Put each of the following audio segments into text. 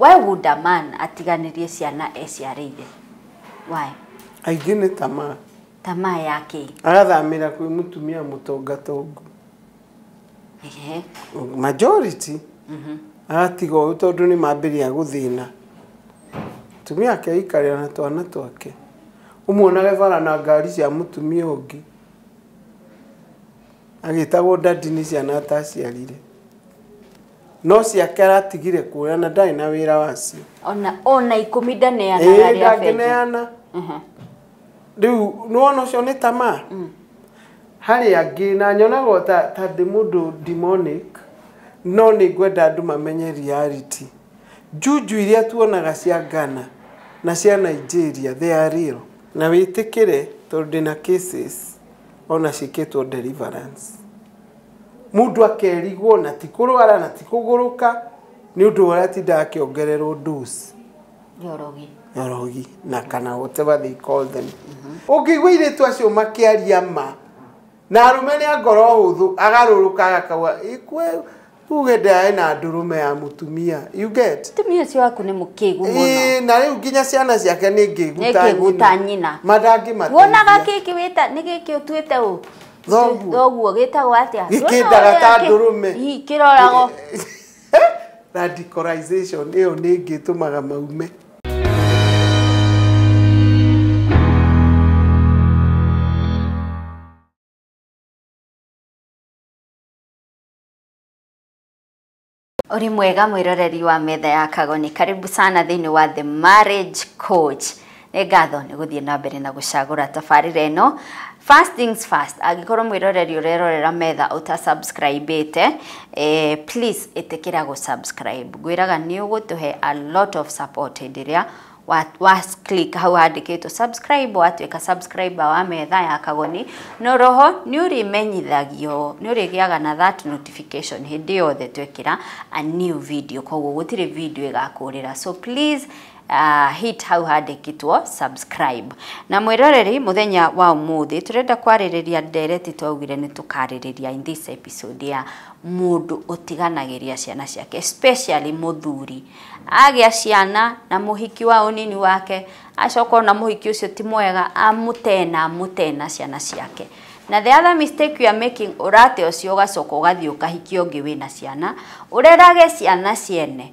Why would a man atiganĩrie ciana eciarĩire? Why? Aingĩ nĩ tamaa. Tamaa ya kĩ? Agathamĩra kwĩ mũtumia mũtongatongu. Ehe. majority aratiga ũyũ tondũ nĩ mambĩrĩria gũthĩna atumia ake aikarĩra na twana twake ũmuonage bara na ngari cia mũtumia ũngĩ agĩtagwo daddy nĩ ciana ataciarire no ciake aratigire kuoya na ndarĩ na wĩra wacio Ona ona ikũmi ndaneanaga Ĩĩ, arĩa bengi. ndangĩneana. Aha. rĩu nĩwona ũcio nĩ tamaa harĩ angĩ na nyonaga o ta ta ndĩ mũndũ demonic no nĩ ngwenda andũ mamenye reality njunju iria tuonaga cia Ghana na cia Nigeria they are real na wĩtĩkĩre tondũ ndĩna cases ona ciĩkĩtwo deliverance mũndũ akerigwo na ti kũrwara na ti kũgũrũka nĩ ũndũ ũratinda akĩongererwo dose. Njorogi. Njorogi na kana whatever they call them. Ũngĩigua irĩtu acio makĩaria ma na arũme nĩ a ngoro hũthũ agarũrũka agakaua ikwe tuge ndae na ndũrũme ya mũtumia you get mũtumia ũcio waku nĩ mũkĩgu mũno na rĩu nginya ciana ciake nĩ ngĩguta nyina madangĩmateithia wonaga gĩkĩ wĩta nĩ gĩkĩ ũtuĩte ũ thoguo gĩtagwo atĩa gĩkĩndaga ta ndũrũme kĩrorago Radicalization ĩyo nĩ ĩngĩ ĩtũmaga maume. Ũrĩ mwega mwĩroreri wa metha ya kago nĩ karibu sana thĩinĩ wa The Marriage Coach. nĩ ngatho nĩ gũthiĩ na mbere na gũcagũra tabarĩra ĩno first things first angĩkorwo mwĩroreri ũrerorera metha ũta subscribe ĩte eh, please ĩtĩkĩra gũ subscribe ngwĩraga nĩ ũgũtũhe a lot of support hĩndĩ ĩrĩa wa, wa click hau handĩkĩtwo subscribe watuĩka subscriber wa metha ya kagoni no roho nĩ ũrĩmenyithagio nĩ ũrĩgĩaga na that notification hĩndĩ yothe twekĩra a new video koguo gũtirĩ video ĩgakũrĩra so please uh, hit hau handĩkĩtwo subscribe na mwĩroreri muthenya wa umuthi turenda kwarĩrĩria ndereti twaugire nĩ tũkarĩrĩria in this episode ya mũndũ ũtiganagĩria ciana ciake especially mũthuri agĩa ciana na mũhiki wa ũnini wake acoka ona mũhiki ũcio ti mwega amũtena amũtena ciana ciake na the other mistake you are making ũrate ũcio ũgacoka ũgathiĩ ũkahikia ũngĩ wĩna ciana ũrerage ciana ciene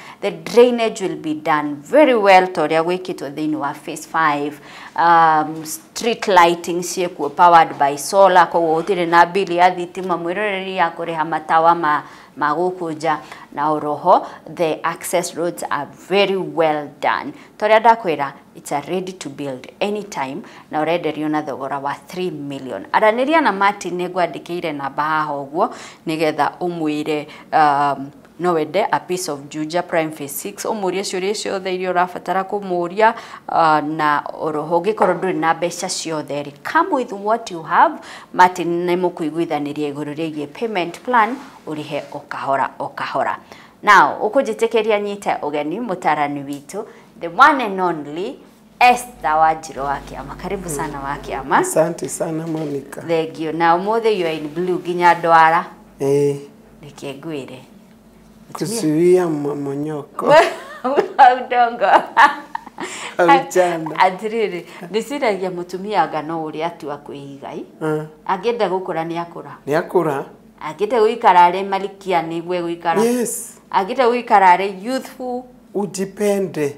the drainage will be done very well ta ũrĩa gwĩkĩtwo thĩinĩ wa phase 5 um, street lighting ciĩkuo powered by solar koguo gũtirĩ na bili ya thitima mwĩroreri ya kũrĩha matawa ma, ma gũkũ nja na oroho the access roads are very well done ta ũrĩa ndakwĩra it's a ready to build anytime na ũrenderio na thogora wa 3 million aranĩria na martin nĩ ngwandĩkĩire namba haha ũguo nĩgetha ũmwĩre um, No wende a piece of Juja Prime Phase 6 ũmũrie ciũria icio ciothe iria ũrabatara kũmũria uh, na oroho ũngĩkorwo ndũrĩ na mbeca ciothe rĩ come with what you have Martin nĩ mũkũiguithanĩria igũrũ rĩgiĩ payment plan ũrĩhe o kahora o kahora now ũkũnjĩtĩkĩria nyite ũgeni mũtarani witũ the one and only Esther Wanjirũ wa kĩama karibu sana wa kĩama Asante sana Monica. thengio na ũmũthĩ you are in blue nginya ndwara Eh, reke ngwĩre kuzuia mmomonyoko wa udongo wa vijana. atĩrĩrĩ ndĩciragia mũtumia anga no ũrĩa atua kwĩigai Ah, angĩenda gũkũra nĩ akũra Nĩakũra. angĩenda gũikara arĩ malikia nĩguo egũikara Yes, angĩenda gũikara arĩ youthful ujipende.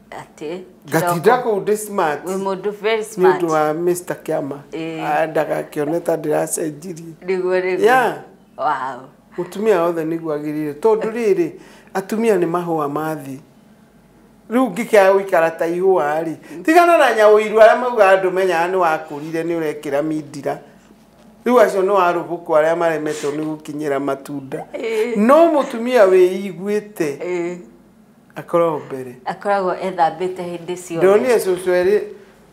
Ati, ngatinda kidogo. kũu ndĩ smart Wĩ mũndũ very nĩ smart. ũndũ wa Mr. Kĩama Eh. Ah, ndagakĩone ta ndĩracenjirie Nĩguo nĩguo. Yeah. Wow. mũtumia wothe nĩguo agĩrĩire tondũ rĩrĩ atumia nĩ mahũa ma thĩ rĩu ngĩkĩaga gũikara ta ihũa rĩ tigana na nyaũiru arĩa maugaga andũ menyaga nĩ wakũrire nĩ ũrekĩra mindira rĩu acio nĩ warũbũkũ arĩa maremetwo nĩ gũkinyĩra matunda no mũtumia wĩiguĩte Eh, akoragwo mbere akoragwo ethambĩte hĩndĩ ciothe ndonire cũcũ erĩ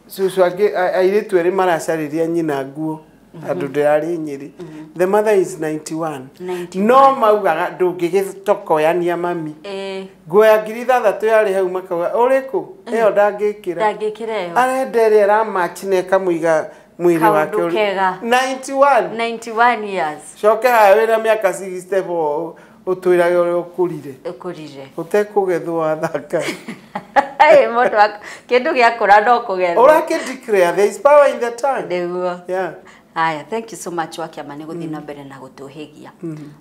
cũcũ angĩ a- airĩtu erĩ maracarĩria nyina nguo andũ ndĩrarĩ nyĩrĩ the mother is 91 91. no maugaga ndũngĩgĩtokoyania mami Eh, nguo ya ngiri ithathatũ yarĩ hau makauga ũrĩkũ ĩyo ndangĩkĩra ndangĩkĩra ĩyo arenda ĩrĩa ĩramachi na ĩkamũiga mwĩrĩ Kaũndũ wake ũrĩ- kega. 91 91 years coke haya wĩna mĩaka 64 ũtwĩrage ũrĩa ũkũrire ũkũrire ũtekũgethwo athaka Ĩ, mũndũ ak- kĩndũ gĩakũra no kũgethwo ũrake declare there is power in the tongue nĩguo yeah haya thank you so much wakĩama nĩ gũthiĩ na mbere na gũtũhĩgia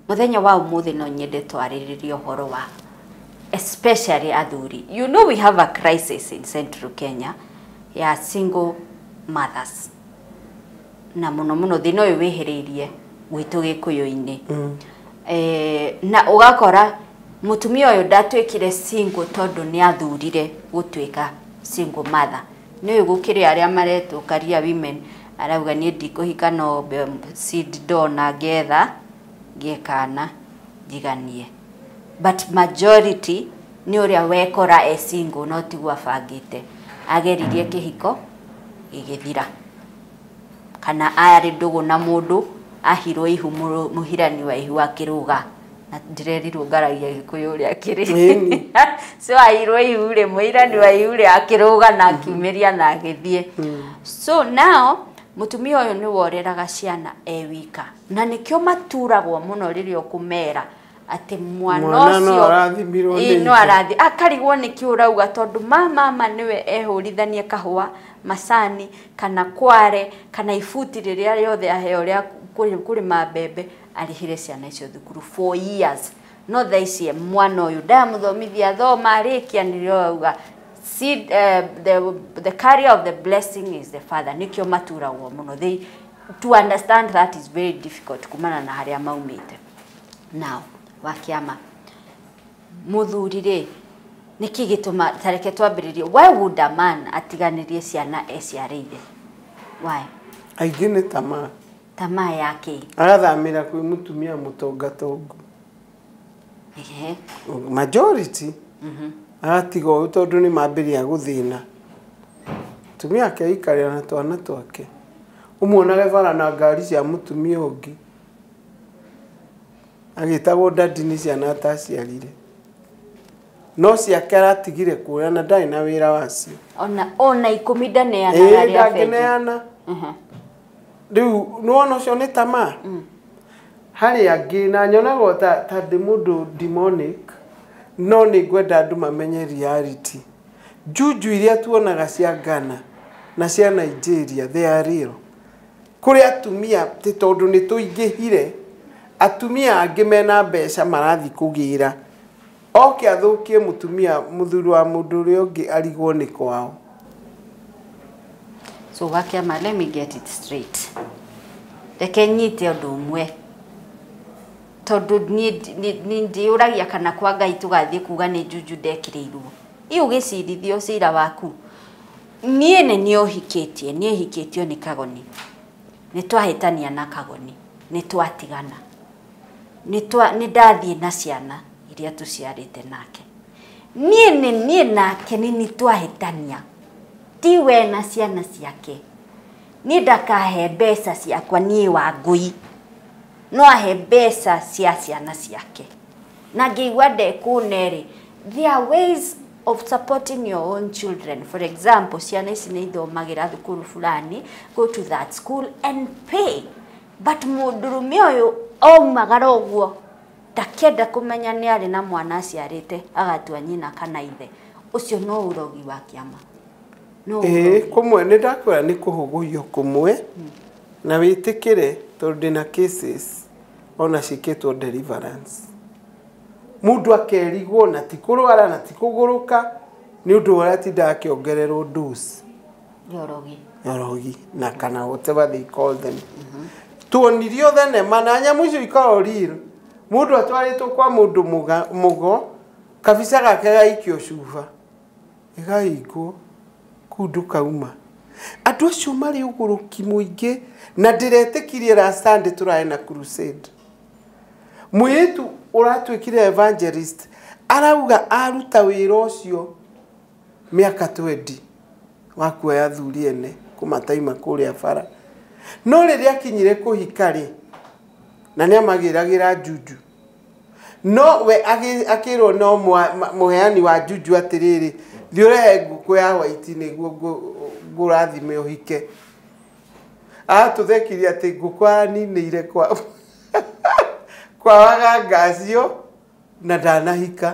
mũthenya wa ũmũthĩ no nyende twarĩrĩrie ũhoro wa especially athuri you know we have a crisis in central kenya ya single mothers na muno muno thina uyu wihiriirie gwitu gikuyu-ini mm. eh, na ugakora mutumia uyu ndatuikire single tondu ni athurire gutuika single mother ni uyu gukiri aria maretwo karia women arauga ni ndikuhika no seed ndona ngetha ngekana njiganie but majority ni uria wekora e single no tiguo abangite ageririe kihiko gigithira kana arĩ ndũgũ na mũndũ ahirwo ihu mũhirani wa ihu akĩrũga na ndirerirwo ngaragia gĩkũyũ ũrĩa kĩrĩ so ahirwo ihu rĩ mũhirani wa ihu rĩ akĩrũga na akiumĩria na agĩthiĩ mm. so now mũtumia ũyũ nĩ woreraga ciana e wika na nĩkĩo maturagwo mũno rĩrĩa ũkũmera atĩ mwana Mwana no ũcio arathimirwo nĩ Ĩĩ, no ithe. arathi akarigwo nĩkĩ ũrauga tondũ ma mama nĩwe ehũrithanie kahũa macani kana kware kana ibuti rĩrĩa rĩothe aheo rĩa kũrĩ- kũrĩma mbembe arĩhĩre ciana icio thukuru for years no thaa ici mwana ũyũ ndamũthomithia athoma arĩkia nĩrĩo arauga seed, eh, the, the carrier of the blessing is the father nĩkĩo maturagwo mũno they, to understand that is very difficult kumana na harĩa maumĩte Now, wa kĩama, mũthuri rĩ, nĩkĩ gĩtũma, tareke twambĩrĩrie, why would a man atiganĩrie ciana eciarĩire? Why? Aingĩ nĩ tamaa. Tamaa ya kĩ? Agathamĩra kwĩ mũtumia mũtongatongu. Ehe. Majority. Mm -hmm. Agatiga ũyũ tondũ nĩ mambĩrĩria gũthĩna. Tumia ake aikarĩra na twana twake. Ũmuonage bara na ngari cia mũtumia ũngĩ. agĩtagwo dadi nĩ ciana ataciarire no ciake aratigire kuoya na ndarĩ na wĩra wacio ona ona ikũmi ndaneanaga Ĩĩ, arĩa bengi ndangĩneana Mhm. rĩu nĩwona ũcio nĩ tamaa harĩ angĩ na nyonaga ta, ta ndĩ mũndũ demonic no nĩ ngwenda andũ mamenye reality njunju iria tuonaga cia Ghana na cia Nigeria they are real Kũrĩ atumia atĩ tondũ nĩ tũingĩhire, atumia angĩ mena mbeca marathiĩ kũgĩra. Oke athũkie mũtumia mũthuri wa mũndũ ũrĩa ũngĩ arigwo nĩ kwao. So gakĩama let me get it straight. Reke nyite ũndũ ũmwe. Tondũ niĩ ndi- nĩ- nĩ- ndĩyũragia kana kwa Ngai tũgathiĩ kuga nĩ njunju ndekĩrĩirwo. Ĩ ũgĩcirithio cira waku. Niĩ nĩ niĩ ũhikĩtie, niĩ hikĩtio nĩ Kagoni. Nĩ twahĩtania na Kagoni, nĩ twatigana. Nĩ twa, nĩ ndathiĩ na ciana iria tũciarĩte nake. Niĩ nĩ niĩ nake nĩ nĩ twahĩtania. Ti we na ciana ciake. Niĩ ndakahe mbeca ciakwa niĩ Wangũi. No ahe mbeca cia ciana ciake. na ngĩigua ndekũne-rĩ, there are ways of supporting your own children for example ciana ici nĩ ithomagĩra thukuru fulani go to that school and pay but mũndũrũme ũyũ aumagara ũguo ndakĩenda kũmenya nĩ arĩ na mwana aciarĩte agatua nyina kana ithe ũcio no ũrogi wa kĩama no Ĩĩ, ũrogi kũmwe nĩ ndakwĩra nĩ kũhũgũiyo kũmwe na wĩtĩkĩre tondũ ndĩna cases ona ciĩkĩtwo deliverance mũndũ akerigwo na ti kũrwara na ti kũgũrũka nĩ ũndũ ũrĩa atindaga akĩongererwo dose Yorogi. yorogi na kana whatever they call them tuonirio thenema na nyamũ icio ikoragwo real mũndũ atwarĩtwo kwa mũndũ mũga- mũgo kabica gake gaikio cuba Ĩgaingwo kũu ndũkauma. Andũ acio marĩ ũgũrũki mũingĩ na ndĩretĩkirie last Sunday tũrae na crusade. Mũirĩtu ũratuĩkire evangelist arauga aruta wĩra ũcio mĩaka twendi wa kuoya athuri ene kũmataima kũrĩa bara. No rĩrĩa akinyire kũhika rĩ, na nĩ amagĩragĩra njuju. No we akĩĩrwo no mũheani wa juju atĩrĩrĩ, thiĩ ũrehe ngũkũ ya hwaiti nĩguo ngũrathime ũhike. Atũthekirie atĩ ngũkũ araninĩire kwa kwa waganga acio na ndanahika.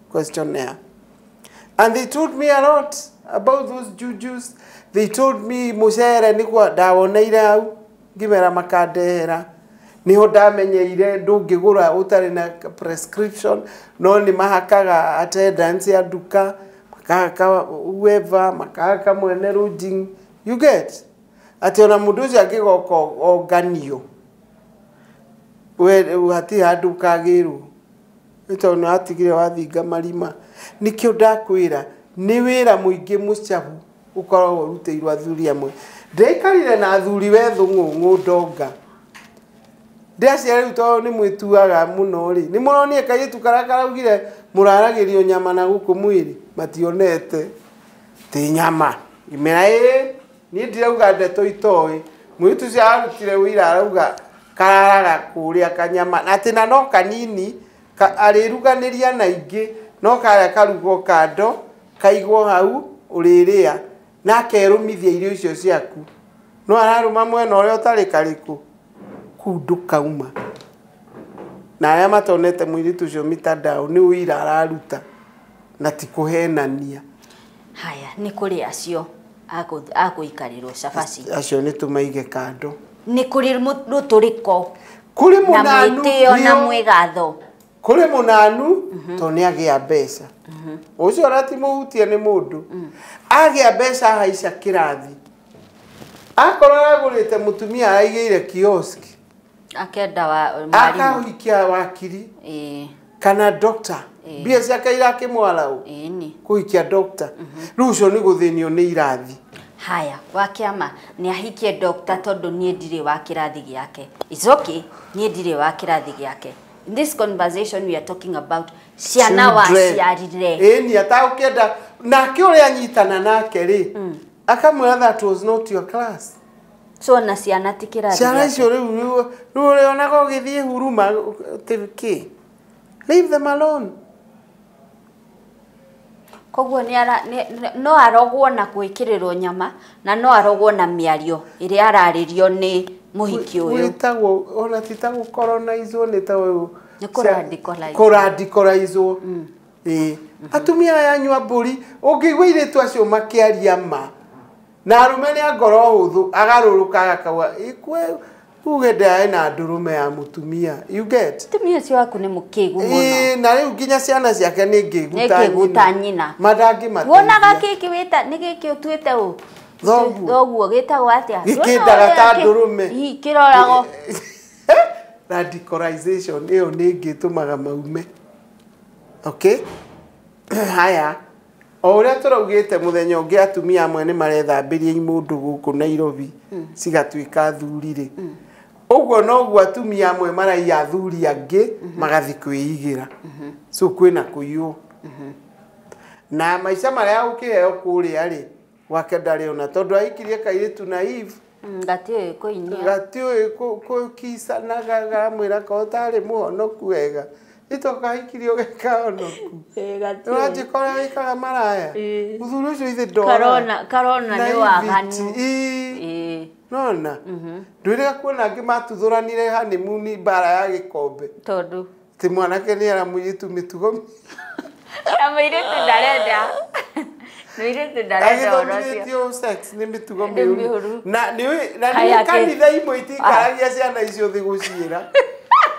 questionnaire. And they told me a lot about those jujus. They told me mucere niguo ndawoneire hau ngimera makandehera niho ndamenyeire ndũngĩgũra ũtarĩ na prescription no nĩ mahakaga attendance ya nduka makahaka whoever makahaka mwene lodging you get atĩ ona mũndũ ũcio angĩgoka onganio we hati handũ kagĩrwo Nĩ tondũ nĩ watigire wathinga marima. Nĩkĩo ndakwĩra nĩ wĩra mũingĩ mũcabu ũkoragwo ũrutĩirwo athuri amwe. Ndiaikarire na athuri we thũng'ũng'ũ ndonga. Ndĩraciria rĩu tondũ nĩ mwĩtuaga mũno rĩ, nĩ mũronire kairĩtu karĩa karaugire mũraragĩrio nyama na gũkũ mwĩrĩ? Mationete. Ti nyama. Ngĩmera ĩĩ. Niĩ ndirauga ndeto itoĩ. Mũirĩtu ũcio ararutire ũira arauga kararaga kũrĩa kanyama na atĩ na no kanini ka- arĩruganĩria na ingĩ no karĩa karugwo kando kaigwo hau ũrĩrĩa na akerũmithia irio icio ciaku no ararũma mwena ũrĩa ũtarĩ karĩkũ kũu ndũkauma na arĩa matonete mũirĩtu ũcio mitandao nĩ ũira araruta na ti kũhenania Haya, nĩ kũrĩ acio. akũ- akũikarĩrwo cabaci acio nĩ tũmaige kando nĩ kũrĩ mũ- rũtũrĩko kũrĩ na mũnanu mwĩtĩo na nĩo- mwĩgatho kũrĩ mũnanu to nĩ agĩa mbeca ũcio ũrati mũhutie nĩ mũndũ agĩa mbeca ahaica kĩrathi akorwo agũrĩte mũtumia araigĩire kioski akenda wa mwarimũ akahikia wakiri ĩĩ kana doctor Ĩĩ. mbia ciake irakĩmwara ũ ĩĩ ni kũhikia doctor rĩu ũcio nĩ gũthĩnio nĩ irathi haya wa kĩama nĩ ahikie dokta tondũ niĩ ndirĩ wa kĩrathi gĩake It's okay niĩ ndirĩ wa kĩrathi gĩake In this conversation we are talking about ciana Children. waciarire ĩni atagũkĩenda nake ũrĩa anyitana nake rĩ akamwira that was not your class so na ciana ti kĩrathi ciana icio rĩu rĩu ũrĩonaga ũgĩthiĩ huruma kä leave them alone koguo no arogwo na gwĩkĩrĩrwo nyama na no arogwo na mĩario ĩrĩa ararĩrio nĩ mũhiki ũyũ wĩtagwo ona ti ta gũkoronizwo nĩ ta ũyũ nĩ kũradikolaizwo kũradikolaizwo mm. Ĩĩ. Atumia aya anyua mbũri, ũngĩigua airĩtu acio makĩaria ma, na arũme nĩ a ngoro hũthũ, agarũrũkaga akauga, ikue tuge ndaĩ na ndũrũme ya mũtumia. You get? Mũtumia ũcio waku nĩ mũkĩgu mũno. Ĩĩ, na rĩu nginya ciana ciake nĩ ngĩgu Nĩ ta ngĩgu ta nyina. nyina. Ma ndangĩmateithia. Wonaga gĩkĩ wĩta nĩ gĩkĩ ũtuĩte ũ? Thoguo. Thoguo gĩtagwo atĩa? Gĩkĩndaga ta ndũrũme. Ii, kĩrorago. Radicalization ĩyo nĩ ĩngĩ ĩtũmaga maume. Okay. Haya. O ũrĩa tũraugĩte mũthenya ũngĩ atumia amwe nĩ marethambĩria imũndũ gũkũ Nairobi cigatuĩka athuri rĩ. Ũguo noguo atumia amwe maraiya athuri angĩ magathiĩ kwĩigĩra. So kwĩna kũiywo. Na maica marĩa ũkĩheo kũrĩa rĩ, wake ndarĩ ona tondũ ahikirie kairĩtu na Eve Mm, Gatiũĩ kũinia. gatiũĩ kũ- kũkisa na gagamwĩra ka ũtarĩ mũhonoku wega itũkahikirie ũgeka honoku Eh, gatiũĩ. ũranjĩkora wĩkaga maraya Eh. mũthuri ũcio ithe ndora Karona- karona Na nĩ waganu. ibiti, ii. Eh, nona ndwĩrĩga kuona angĩ matuthuranire hanimuni mbara ya gĩkombe tondũ ti mwanake nä era må yä tu mä tugo na mũirĩtu ndarenda mũirĩtu ndarenda ũhoro ũcio agäthomithätio sex nä mä tugo Nĩ mä mĩũru. ru na nä Kaĩ atĩ- kanitha imwe itikaragia ciana icio thä gå ciä ra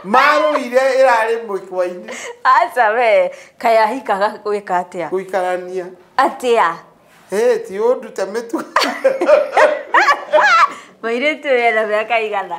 marå ire ä rarä må kwainä aca we kaĩ ahikaga gwĩka atĩa gå ikarania atĩa Hey, ti å ndute mä tugo mũirĩtu ũyũ ena mĩaka igana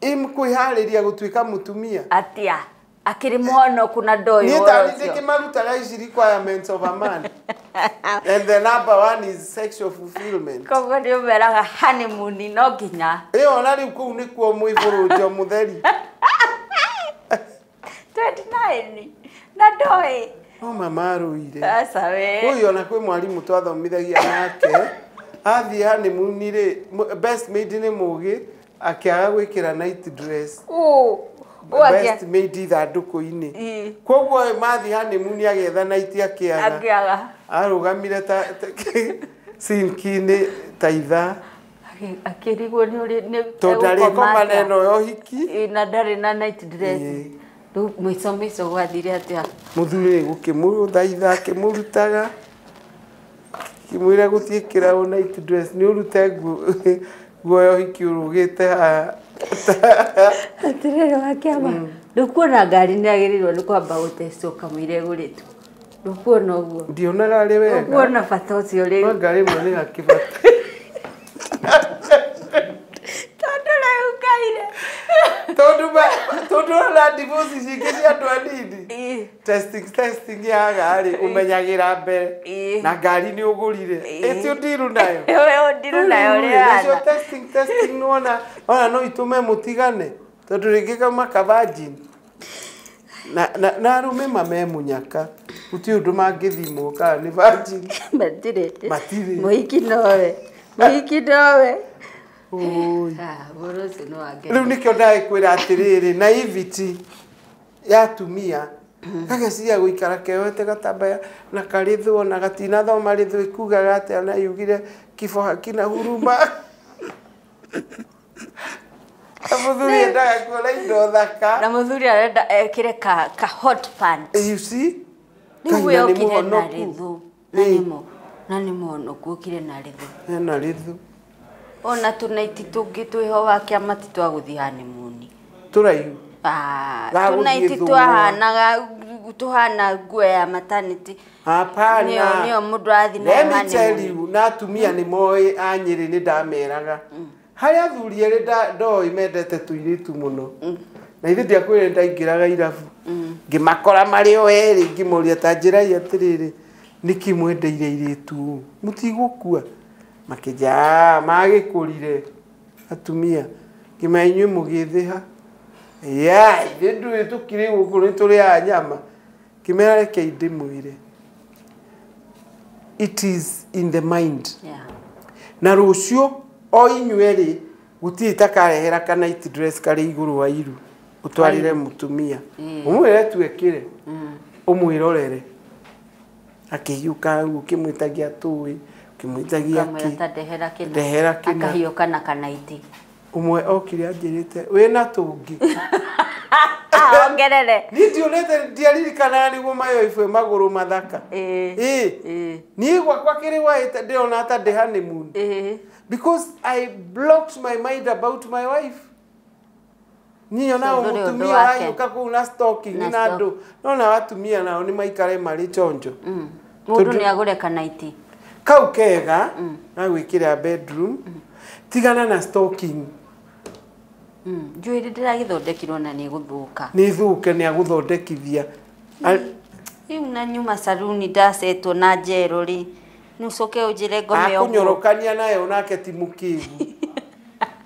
Im kwĩharĩria gũtuĩka mũtumia. Atia. Akĩrĩ mũhonoku na ndoĩ Niĩ ta ũhoro nĩ ũcio. ndĩkĩmarutaga ici requirements of a man. And the number one is sexual fulfillment. Koguo nĩ ũmeraga honeymoon no nginya. Ĩyo na rĩu kũu nĩkuo mwĩhũrũnjo mũtheri. twendi naĩni na ndoĩ Mama marũire. aca we Ũyũ ona kwĩ mwarimũ twathomithagia nake athiĩ hanimuni rĩ mũ- best maid nĩ mũgĩ akĩaga gwĩkĩra night dress Ũ, ũ atia- best maid ithandũkũ-inĩ Ĩ. kwoguo ĩ, mathiĩ hanimuni agetha night akĩaga angĩaga arũgamire ta ta- sinki-inĩ ta ithaa Akĩ- akĩrigwo nĩ ũrĩ nĩ tondũ egũkoma arĩko atĩa. maneno ya ũhiki Ĩ, na ndarĩ na night dress Ĩ. rĩu mũico mũico gwathire atĩa mũthuri rĩ gũkĩmũthaitha akĩmũrutaga akĩmwĩra gũthiĩ kĩraũ na itu dress nĩ ũrute nguo nguo ya ũhiki ũrũgĩte haha atĩrĩrĩ wakĩama ndũkuona ngari nĩ agĩrĩirwo nĩ kwamba gũtecwo kamũira ĩgũrĩtwo Ndũkuona ũguo. Ndionaga arĩ wega. Ndũkuona bata ũcio rĩu. No ngarĩ mwe nĩ gakĩbata. Tondũ rĩu kaire. Tondũ ba tondũ na divorce cingĩ cia andũ anini. Testing testing yaga rĩ ũmenyagĩra mbere. Na ngari nĩ ũgũrire. Ĩtio ndiru nayo. Ĩyo ndiru nayo rĩ. Testing testing nona ona no itũme mũtigane. Tondũ rĩngĩ kauma ka virgin na, na, na arũme mamemunyaka gũtirĩ ũndũ mangĩthimwo kana nĩ virgin matirĩ Matirĩ. mũhiki nowe mũhiki nowe Ũũi. Ah, ũhoro ũcio nĩ wa ngero. rĩu nĩkĩo ndagĩkwĩra atĩrĩrĩ na iviti ya atumia gageciria gũikara keoete gatambaya na karĩthwo na gatinathoma rĩthwo ikugaga atĩa na yugire kiboha kina huruma Na mũthuri endaga kuona indo thaka. Na mũthuri arenda ekĩre ka, ka hot pants. Eh, You see? Rĩu Kahinda we nĩ okire na mũhonoku. rĩthũ. Na Ĩĩ. nĩmo. Na nĩ mũhonoku okire na rĩthũ. Hena rĩthu. Ona tũnaiti tũngĩ twĩho wa kĩama ti twa gũthiĩ hanimuni. Tũraihu. Ah, Ga gũthiĩ tũnaiti thũng'wa. twahanaga tũhana nguo ya matanĩtĩ Hapana. Nĩyo- nĩyo mũndũ arathiĩ nayo Let me honeymoon. tell you, na atumia nĩ moĩ a nyĩrĩ nĩ ndameraga harĩa athuri erĩ nda- ndoĩ mendete tũirĩtu mũno na ithuĩ ndiakwĩrĩ ndaingĩraga irabu ngĩmakora marĩ o erĩ ngĩmoria ta njĩrai atĩrĩrĩ nĩkĩ mwendeire irĩtu ũũ? mũtigũkua makĩnja "Ah, magĩkũrire atumia ngĩmenya inyuĩ mũgĩthĩha ya ithuĩ tũkirĩ gũkũ nĩ tũrĩaga nyama Ngĩmera rekei ndĩmwĩre. It is in the mind. Yeah. Na rũciũ o inyuĩ rĩ gũtirĩ takarehera ka night dress karĩ igũrũ wa iru ũtwarĩre mũtumia ũmwĩre tu ekĩre ũmwĩrorere akĩhiũka hau ũkĩmwĩtagia tũĩ ũkĩmwĩtagia Kamwĩra kĩ ta ndehera kĩna. ndehera kĩna Akahiũka na kanaiti. Ũmwe okire anjĩrĩte wĩ na tũngĩ. Ah, ongerere. Niĩ ndiũrĩte ndiaririkanaga nĩguo mayoibwe magũrũ mathaka. Ĩĩ. Ĩĩ. Ĩĩ. Niĩ gwakwa kĩrĩ waĩte ndĩrona ta ndĩ honeymoon. Ĩĩ. Because I blocked my mind about my wife. Niĩ ona Tondũ rĩu mũtumia ndwake. wayũka kũu na stocking Na na andũ no nao atumia nao nĩ maikare marĩ chonjo Mm. Mũndũ Tondũ- nĩ agũre kanaiti. kau kega na gwĩkĩra bedroom tigana na stocking Mm. Njũĩ nĩ ndĩragĩthondekirwo na nĩ gũthũka. nĩ thũke nĩ agũthondekithia A- Rĩu na nyuma saruni ndacetwo na njerũ rĩ. Nũcoke ũnjĩre ngome ũguo. akũnyorokania nayo nake ti mũkĩgu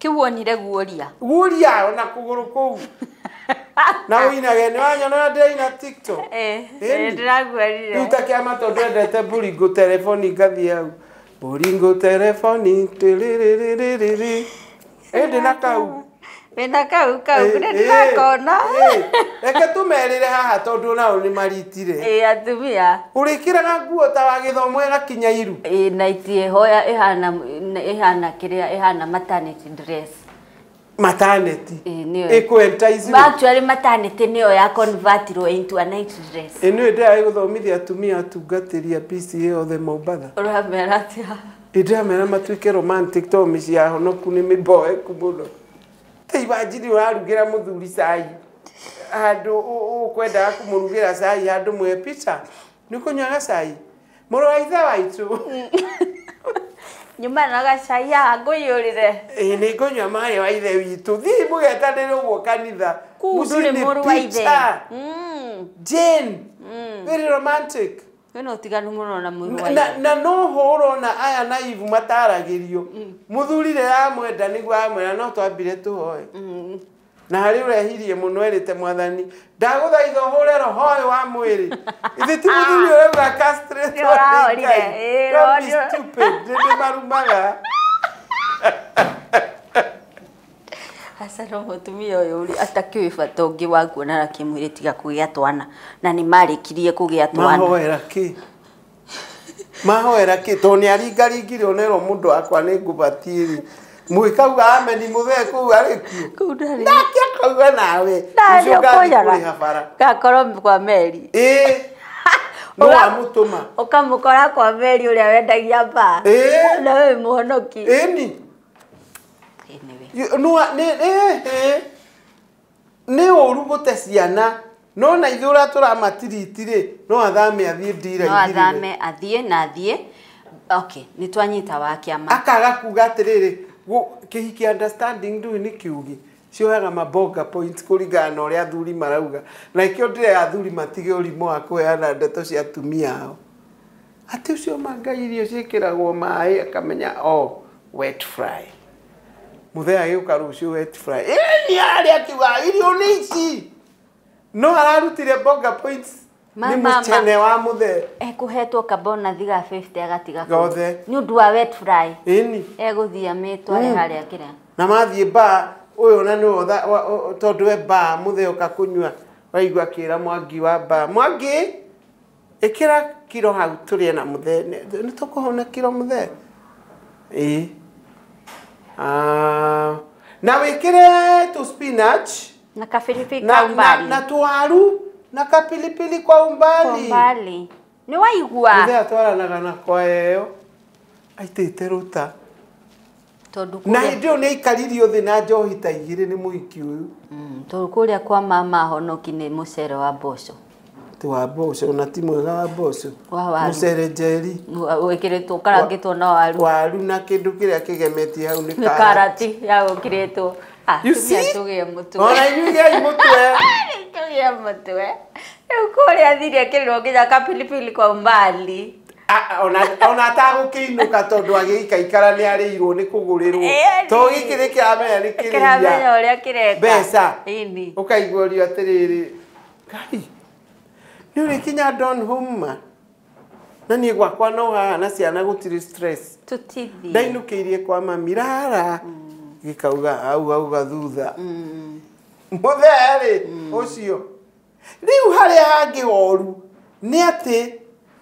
Kĩu wonire guoria. Guria ona kũgũrũ kũu. Na ũinage nĩ wanyona ũrĩa ndĩraina TikTok. Eh, Ĩni. eh, ndĩraguarire. Rĩu ta kĩama tondũ ndwendete Boringo telefoni ngathiĩ hau. Boringo telefoni tĩrĩrĩrĩrĩrĩ. Ĩndĩ na kau. Wĩna kau kau, Eh, nĩ ndĩrakona. eh, eh. Reke tũmerĩre haha tondũ nao nĩ maritire. Ĩ atumia. Ũrĩkĩraga nguo ta wa gĩthomo ĩgakinya iru. Ĩ na itie hoya ĩhana Nĩ- ĩhana kĩrĩa ĩhana maternity dress mataneti Ĩĩ, nĩyo. ĩkũentaici actually maternity nĩyo ya convertirwo into a night dress ĩno ĩndĩ ya gũthomithia atumia atungatĩri a PCA othe Mombatha ũramera atĩa ĩndĩ amera matuĩke romantic to mĩciĩ ya honoku nĩ mĩboeku mũno tei wanjiri ũrarugĩra mũthuri cai handũ ũ- ũ- ũkwendaga kũmũrugĩra cai handũ mwe pica Nĩ kũnyua gacai. Mũrũ wa ithe waitũ. Nyuma na gacai haha ngũiyũrĩre. Ĩĩ nĩ ngũnyua maĩ wa ithe witũ. Thiĩ mũgetanĩre ũguo kanitha. Kuu Mũciĩ ndũrĩ nĩ mũrũ wa ithe. pizza. Mm, Jane. mm. Very romantic. Wĩna ũtiganu mũno na mũrũ wa na, ithe. na no ho ũrona aya na ivu mataragĩrio mũthuri rĩrĩa amwenda nĩguo amwĩra no twambire tũhoe Mm. na harĩ ũrehirie mũno erĩte mwathani ndagũthaitha ũhũre roho ũyũ wa mwĩrĩ ithe ti mũthuri ũrauga castrate Nĩ ũrahorire. Ngai. Ĩĩ, Don't be roho nĩ- stupid. Nĩndĩ marumaga aca no mũtumia ũyũ ũrĩ atakĩũĩ bata ũngĩ wa kuonana kĩmwĩrĩ tiga kũgĩa twana na nĩ marĩkirie kũgĩa twana mahoera kĩ mahoera kä tondå nä aringaringire å nerwo må ndå wakwa nä ngå batiä rä må gä kauga ameni må thee kå u arä kuo kuu ndarĩ nake akauga nawe ndarĩ ũcio ngathiĩ kũrĩha bara. ũkũnyaga gakorwo kwa meri ĩĩ no Ũga- amå tå ma ũkamũkora kwa meri ũrĩa wendagia mbaa Ĩĩ. na we wĩ mũhonoki ĩni Anyway. nä Nĩ ũru gũte ciana. No na ithuĩ ũratũra matiriti rĩ, no athame athiĩ no ndira-inĩ rĩrĩ. athame athiĩ na athiĩ okay nĩ twanyita wa kĩama Akaga kuga atĩrĩrĩ, gũ- kĩhiki understanding ndũĩ nĩ kĩũgĩ. Cioyaga ma bonga points kũringana na ũrĩa athuri marauga. Na nĩkĩo ndĩrera athuri matige ũrimũ wa kũheana ndeto cia atumia ao. Atĩ ũcio ma Ngai irio ciĩkĩragwo maĩ akamenya oh wet fry. Mũthee agĩũka rũciũ wet fry. Ĩĩ nĩ arĩ akiuga irio nĩ ici. No ararutire bonga points nĩ Ma- ma- ma. mũcene wa mũthee. ekũhetwo kabonathi ga 50 agatiga kũu. Gothe. nĩ ũndũ wa wet fry Ĩni. egũthiĩ amĩtware Mm. harĩa kĩrĩa na mathiĩ baa ũyũ na nĩ wotha wa- o- o- tondũ e baa mũthee oka kũnyua waigua akĩra mwangi wa baa mwangi Ĩkĩra kiro hau tũrĩe na mũthee. Nĩ tũkũhau na kiro mũthee? Ĩĩ. Ah, na wĩkĩre tũ spinach Na kabiribiri na, kwa na, umbali. na tũwaru na kapilipili kwa Kwa umbali. umbali. Nĩ waigua? Mũthee atwaranaga na kwaya ĩyo aitĩte rũta. na hĩndĩ ĩyo nĩ aikaririo thĩ na njohi ta igĩrĩ nĩ mũhiki ũyũ mm, tondũ kũrĩa kwa mama ahonoki nĩ mũcere wa mboco ti wa mboco na ti mwega wa mboco mũcere njeri wĩkĩrĩtwo ũkarangĩtwo na waru waru na kĩndũ kĩrĩa kĩgemetie hau nĩ karati ya gũkĩrĩtwo ah, tũgĩa mũtwe ona inyuĩ gĩai mũtwe tũgĩa mũtwe rĩu kũrĩa thiria kĩrĩrwo nginya kapilipili kwa umbali A- ona ona atagũkĩinũka tondũ agĩikaikara nĩ arĩirwo nĩ kũgũrĩrwo Ĩĩ, to ĩĩ. gĩkĩ nĩ kĩramenya nĩ kĩramenya kĩrĩia ũrĩa kĩreka mbeca Ĩni. ũkaiguorio atĩrĩrĩ ngai nĩ ũrĩ kinya don home ma na niĩ gwakwa no haha na ciana gũtirĩ stress tũtithi ndainũkĩirie kwa mami rara gĩkauga hau hau gathutha mũthee rĩ ũcio Rĩu harĩa hangĩ horu nĩ atĩ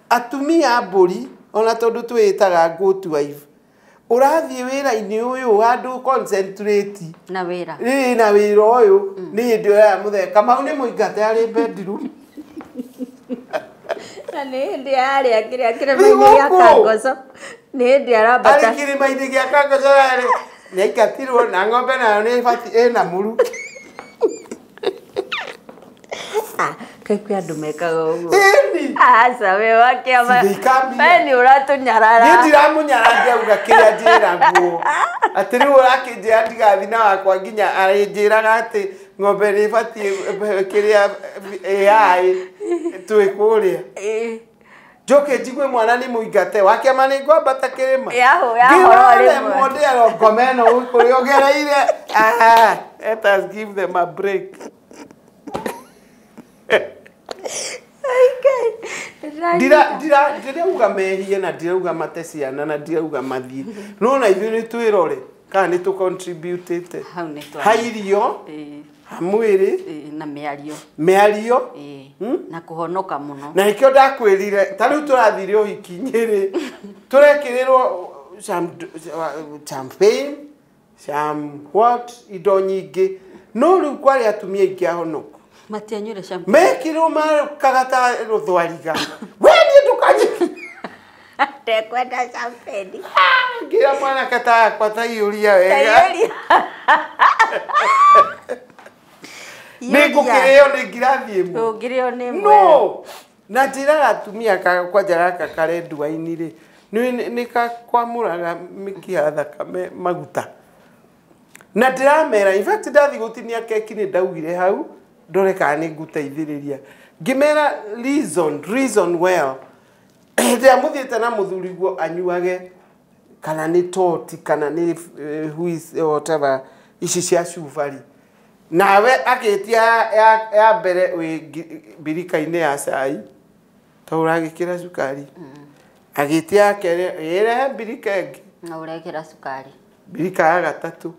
atumia a mbũri, ona tondũ twĩĩtaga goat wife, ũrathiĩ wĩra-inĩ ũyũ handũ ũ concentrate Na wĩra. ĩĩ na wĩra ũyũ nĩ hĩndĩ ũraya mũthee kamau nĩ mũingate arĩ bedroom Na nĩ hĩndĩ arĩa kĩrĩa kĩrĩma-inĩ gĩa Thigũkũ. kangoco nĩ hĩndĩ arambata arĩ kĩrĩma-inĩ gĩa kangocorarĩ nĩ aingatirwo na ng'ombe nayo nĩ bati ĩna mũru Ah, kai kwä andå mekaga å guo Ĩni. aca wä wa kä ama Sindikambia. we nä å ratå niä nyarara ndiramunyara ngĩauga kĩrĩa njĩra guo atĩ rĩu ũrakĩnjĩra ndigathi na wakwa nginya arĩnjĩraga atĩ ng'ombe nĩ ĩbatiĩ kĩrĩa AI twĩ kũrĩa Ĩ. njoke njigwe mwana nĩ mũingate wakĩama nĩ ngwambata kĩrĩma Yahoo, yahoo, Ngĩrora rĩmwe. remwo ndĩarwo ngoma ĩno kũrĩa ũgereire Ah, let us give them a break Ndira- ndira- ndirauga mehie na ndirauga mate ciana na ndirauga mathiĩ no na ithuĩ nĩ twĩrore kana nĩ tũ contributĩte hau nĩ twa ha irio Ĩĩ, ha mwĩrĩ ĩĩ, na mĩario mĩario Ĩĩ, Hmm? na kũhonoka mũno na nĩkĩo ndakwĩrire ta rĩu tũrathire ũhikinyi-rĩ tũrekĩrĩrwo cham- champagne cham what indo nyingĩ no rĩu kwarĩ atumia ingĩ ahonoku Matianyuire shampoo. mekirwo makaga ta rũthwariga we niĩ ndũkanjĩ Ndekwenda champeni. ngira mwanake ta yakwa ta iũria wega Tayari. nĩ ngũkĩrĩo nĩ ngirathi ĩmwe Ndũngĩrĩo nĩ mwe. no na njĩra gatumia ka- kwanja gaka kare nduainĩ rĩ nĩ- nĩ kakwamũraga mĩkiha thakame maguta Na ndĩramera, in fact ndathiĩ gũtinia keki nĩ ndaugire hau, ndore kana nĩ ngũteithĩrĩria. Ngĩmera reason, reason well. Hĩndĩ ĩrĩa mũthiĩte na mũthuri guo anyuage kana nĩ toti kana nĩ eh, who is- eh, whatever ici cia cubari nawe agĩtia ya- ya- ya mbere wĩ ngi- mbirika-inĩ ya cai ta ũragĩkĩra cukari agĩtia ya kerĩ ĩrehe mbirika ĩngĩ na ũrekĩra cukari Mbirika ya gatatũ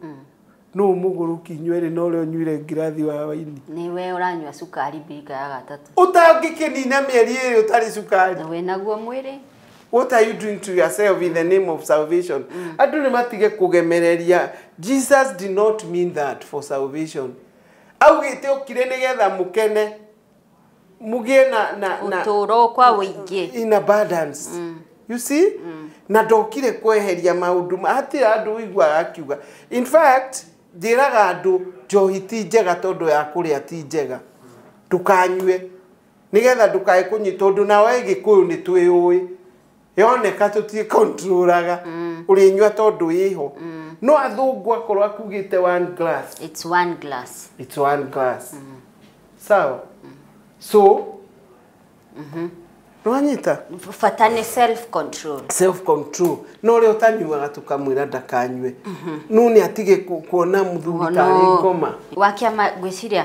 nũ mũgũrũki inyuĩ erĩ na ũrĩa ũnyuire ngirathi wa waini Nĩwe ũranyua cukari mbirika ya gatatũ. ũtangĩkĩnina mĩeri ĩrĩ ũtarĩ cukari Na wĩ naguo mwĩrĩ. what are you doing to yourself in the name of salvation andũ nĩ matige kũgemereria jesus did not mean that for salvation augĩte okire nĩgetha mũkene mũgĩe na, na, na ũtũũro kwa ũingĩ in abundance mm. you see mm. na ndokire kweheria maundu hatire andu uiguaga akiuga in fact njĩraga andu njohi ti njega tondu ya kuria ti njega ndukanyue nigetha ndukae kunyi tondu nawe gikuyu ni twiyui yoneka tũtikontrũraga mm. ũrĩnyua tondũ ĩho mm. no athũngũ akorwo akugĩte one glass it's one glass it's one glass mm. sawa mm. so mm -hmm. Nĩwanyita? Bata nĩ self control. Self control. Na ũrĩa ũtanyuaga tũkamwĩra ndakanyue. Mm -hmm. Nũ nĩ atige kuona mũthuri tarĩ ngoma. Wakĩama gwĩciria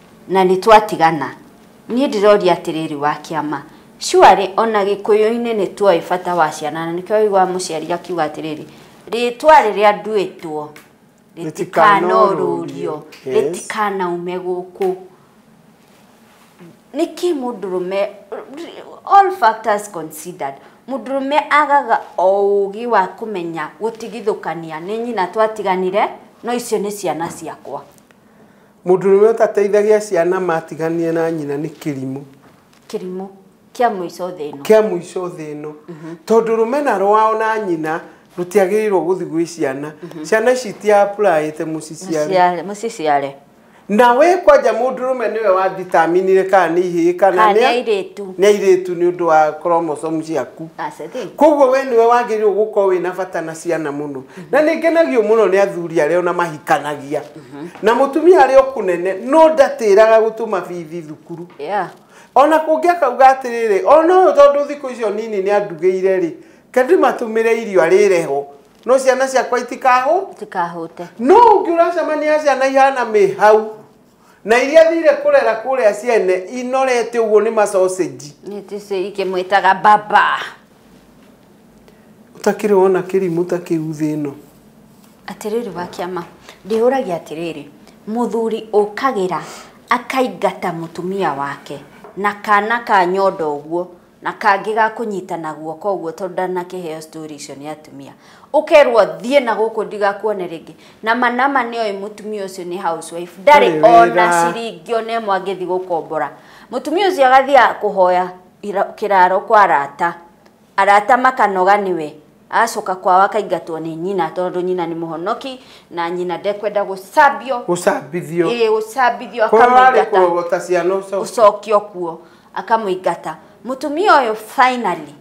Na nĩ twatigana. Niĩ ndĩroria atĩrĩrĩ, wa kĩama, surely o na Gĩkũyũ-inĩ nĩ tũĩ bata wa ciana, na nĩkĩo waiguaga mũciari akiuga atĩrĩrĩ, Rĩĩtwa rĩrĩa nduĩtwo rĩtikanorurio, rĩtikanaume gũkũ. Nĩkĩ mũndũrũme, all factors considered, mũndũrũme agaga o ũũgĩ wa kũmenya gũtigithũkania, nĩ nyina twatiganire, no icio nĩ ciana ciakwa? Mũndũrũme ũtateithagia ciana matiganie na nyina nĩ kĩrimũ. Kĩrimũ kĩa mũico thĩ ĩno. Kĩa mũico thĩ ĩno. Tondũ rũmena rwao na nyina rũtiagĩrĩirwo gũthiĩ gwĩ ciana. Ciana ici iti apply ĩte mũciciare. Mũciare, mũciciare. Na we kwanja mũndũrũme nĩwe wa determine ire kana nĩ ihĩĩ kana Kana nĩ nĩ a- airĩtu. nĩ airĩtu nĩ ũndũ wa chromosome ciaku. That's the thing. Koguo we nĩwe wagĩrĩirwo gũkorwo wĩna bata na ciana mũno. Na nĩ ngenagio mũno nĩ athuri arĩa ona mahikanagia. na mũtumia arĩ o kũnene no ndatĩraga gũtũma bithi thukuru Yeah. ona kũngĩ akauga atĩrĩrĩ ona ũyũ tondũ thikũ icio nini nĩ andugĩire rĩ kandĩmatũmĩre irio arĩre ho no ciana ciakwa itikahũ Tikahũte. no ũngĩ ũracemania ciana ihana mĩ hau na iria thire kũrera kũrĩa ciene inorete ũguo nĩ macocenji Nĩ tĩcĩ ikĩmwĩtaga baba. Ũtakĩrĩ wona kĩrimũ ta kĩu thĩ ĩno. Atĩrĩrĩ wa kĩama, ndĩyũragia atĩrĩrĩ, mũthuri ũkagĩra akaingata mũtumia wake na kana ka nyondo ũguo na kangĩ ga kũnyitana guoko ũguo tondũ ndanakĩheo story icio nĩ atumia, ũkerwo thiĩ na gũkũ ndigakuone rĩngĩ, na ma nama nĩ oĩ mũtumia ũcio nĩ house wife, ndarĩ ona ciringi ona ĩmwe angĩthiĩ gũkombora. Mũtumia ũcio agathiaga kũhoya kĩraaro kwa arata. Arata makanoga nĩwe, agacoka kwao akaingatwo nĩ nyina tondũ nyina nĩ mũhonoki na nyina ndekwenda gũcambio. Gũcambithio. Ĩĩ gũcambithio akamũingata. Kũrogota ciana ũcokio. Ũcokio kuo akamũingata. Mũtumia ũyũ finally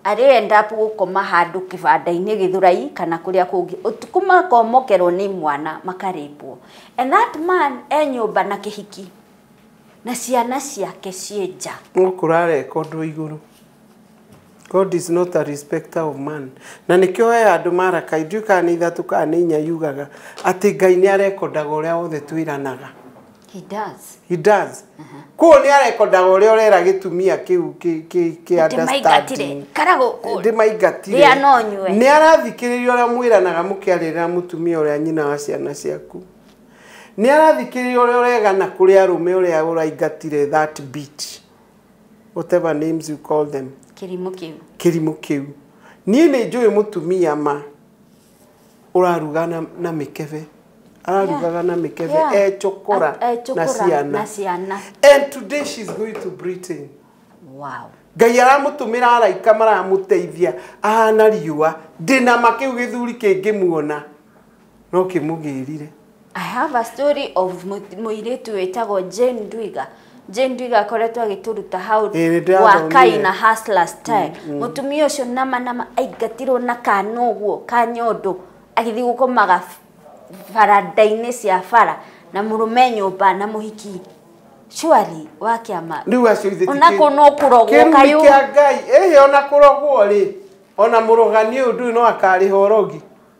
arĩ end up gũkoma handũ kĩbanda-inĩ gĩthũrai kana kũrĩa kũngĩ ũtukũ makomokerwo nĩ mwana makarĩpwo. And that man e nyũmba na kĩhiki. Na ciana ciake ciĩ nja. No kũrareka ũndũ igũrũ. God is not a respecter of man. Na nĩkĩo he handũ Maraka, ndiũĩ kana nĩ ithatũ kana nĩ inya yugaga atĩ Ngai nĩ arekondaga ũrĩa wothe twĩranaga. He does. He does. Kũguo nĩ arekondaga ũrĩa ũrera gĩtumia kĩu kĩ- kĩ- kĩ Atĩ maingatire. understanding. Kana gũkũ. Ndĩmaingatire. Rĩa no nyue. Nĩ arathikĩrĩria ũrĩa mwĩranaga mũkĩarĩrĩra mũtumia ũrĩa nyina wa ciana ciaku. Nĩarathikĩrĩria ũrĩa ũregana kũrĩ arũme ũrĩa ũraingatire that beat, whatever names you call them. Kĩrimũ kĩu. Kĩrimũ kĩu. Niĩ nĩnjũĩ mũtumia ma ũraruga na na mĩkebe. Ararugaga na mĩkebe Yeah. e cũkũra A- e na cũkũra ciana. na ciana. And today she's going to Britain. Wow. Ngai aramũtũmĩra araika maramũteithia ahana riũa. Ndĩna ma kĩu gĩthuri kĩngĩmuona. No kĩmũgĩrire. I have a story of mũ- mũirĩtu wĩtagwo Jane Ndwiga. Jane Ndwiga akoretwo agĩtũruta hau Ĩĩ, nĩndĩrathomire. wa Kai na Hustler Style. Mũtumia ũcio nama nama aingatirwo na kana ũguo ka nyondo agĩthiĩ gũkomaga baranda-inĩ cia bara na mũrũme nyũmba na mũhiki surely wa kĩama Rĩu acio ithĩ ti ona kĩ- kũ no kũrogwo kĩrumi kayũ kĩa Ngai ĩhĩ ona kũrogwo rĩ ona mũrogani ũyũ ndũĩ no akarĩha ũrogi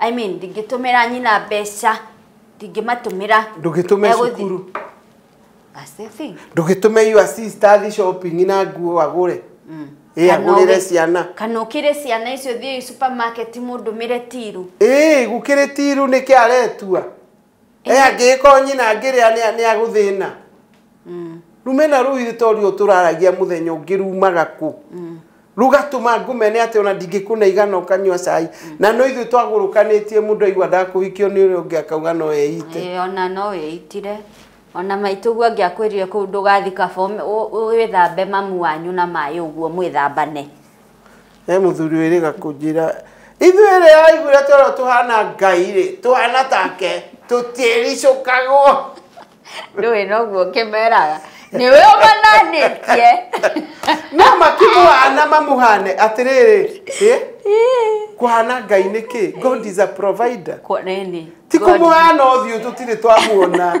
I mean ndingĩtũmĩra nyina mbeca ndingĩmatũmĩra ndũgĩtũme Egũthi- cukuru That's the thing. ndũgĩtũme you assist athiĩ shopping na nguo agũre ĩ Kana agũrĩre ũgĩ- ciana kana ũkĩre ciana icio thiĩ supermarket mũndũmĩre tiru ĩ gũkĩrĩ tiru nĩkĩ aretua e angĩgĩkorwo nyina angĩrĩa nĩ- nĩ agũthĩna rumena rũu irĩto ruo tũraragia mũthenya ũngĩ rumaga kũ rugatũma ngũmene atĩ ona ndingĩkũnaiga na ũkanyua cai na no ithuĩ twagũrũkanĩtie mũndũ aigua ndakũhikio nĩ ũrĩa ũngĩ akauga no eite Ĩĩ, ona no wĩitire ona maitũguo angĩakwĩrire kũu ndũgathi kaba ũme- ũ- ũ- wĩthambe mamu wanyu na maĩ ũguo mwĩthambane he muthuri wiriga kunjira ithuĩ rĩ aiguire toro tuhana ngai rĩ tuhana take tũtiĩricũkagwo ndũĩ noguo ngĩmeraga nĩ we ũmananĩtie no makĩmũhana mamuhane atĩrĩrĩ ĩ kuhana ngai nĩ kĩ god is a provider Kwa- nĩ- nĩ. ti kũmũhana ũthiũ tũtirĩ twamuona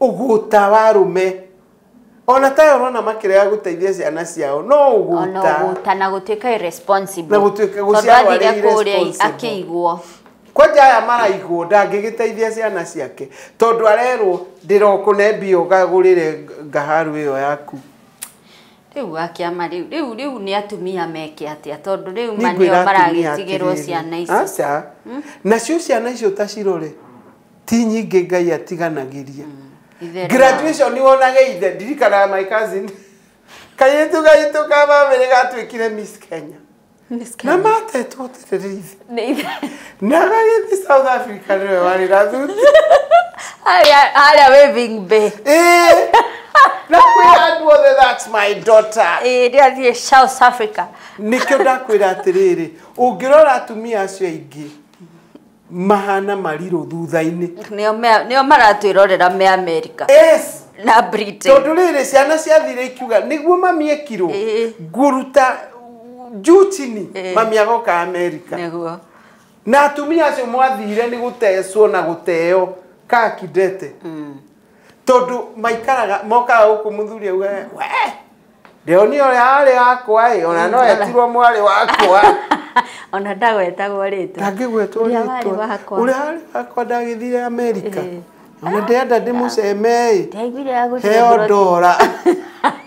Ũgũta wa arũme. Ona ta aya ũrona makĩrega gũteithia ciana ciao no ũgũta. Ona ũgũta na gũtuĩka irresponsible. Na gũtuĩka gũciarwo arĩ irresponsible. Tondũ athire kũrĩa akĩigwo kwanja aya maraigwo ndangĩgĩteithia ciana ciake tondũ arerwo ndĩrokũne mbia ũgagũrĩre ngaharũ ĩyo yaku rĩu akĩama rĩu rĩu rĩu nĩ atumia meke atĩa tondũ rĩu manĩo maragĩtigĩrwo ciana icio aca hmm? nacio ciana icio ta cirore ti nyingĩ ngai atiganagĩria Itherera. graduation nĩ wonage ithe ndirikanaga my cousin kairĩtu gaitũ ka bamĩrĩ gatuĩkire miss kenya Miss na Kenya. matetwo atĩrĩrĩ ithe Nĩ ithe- na gagĩthi south africa nĩwe warĩ na thuti Harĩa- harĩa waving bay Ĩĩ. na kwĩra andũ othe that's my daughter Ĩĩ, rĩrĩa thiĩ south africa nĩkĩo ndakwĩra atĩrĩrĩ ũngĩrora atumia acio aingĩ mahana marirũ thutha-inĩ nĩo mea- nĩo maratwĩrorera me amerika yes na britain tondå rä rä ciana ciathire ikiuga nä guo mami ekirwo Ĩĩ. nguruta njutini Ĩĩ. mami agoka amerika nĩguo na atumia acio mwathire nä gå tecwo na gå teo kakindete tondũ maikaraga mokaga gũkũ mũthuri auga we ndĩoni ũrĩa arĩ wakwa ĩ ona no etirwo mwarĩ wakwa ona ndagwetagwo rĩtwa ndangĩgwetwo Ũrĩa warĩ rĩtwa wakwa. ũrĩa arĩ wakwa ndagĩthire amerika Eh. ona ndĩenda ndĩmũceme ĩ ndaiguire agũthiĩ heo abroad. ndora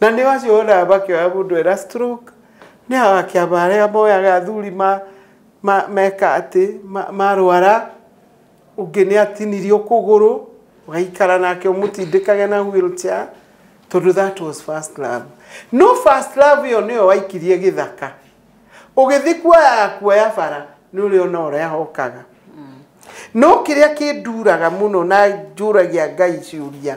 Na nĩ acio wonaga makĩoya mũndũ ena stroke, nĩ akĩama arĩa moyaga athuri ma, ma, meka atĩ, ma, marwara, ũngĩ nĩ atinirio kũgũrũ, ũgaikara nake ũmũtindĩkage na wheel chair, tondũ that was first love. No first love ĩyo nĩyo waikirie gĩthaka, ũgĩthiĩ kuoya ya kuoya bara, nĩ ũrĩona ũrĩa hokaga. No kĩrĩa kĩnduraga mũno na njũragia Ngai ciũria.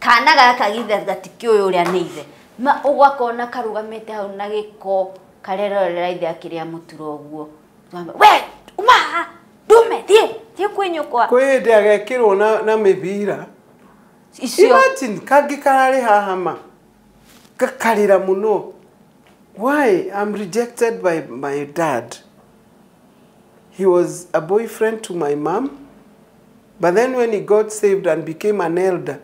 kana gaka githe gatikĩ ũyũ ũrĩa nĩ ithe ma ũgakona karũgamĩte hau na gĩko karerorera ithe akĩrĩa mũtura ũguo Mama, we uma haha ndume thiĩ thiĩ kwĩ nyũkwa kwĩ hĩndĩ agekĩrwo na, na mĩbira icio imagine kangĩ kararĩ haha ma gakarĩra mũno why I'm rejected by my dad he was a boyfriend to my mom But then when he got saved and became an elder,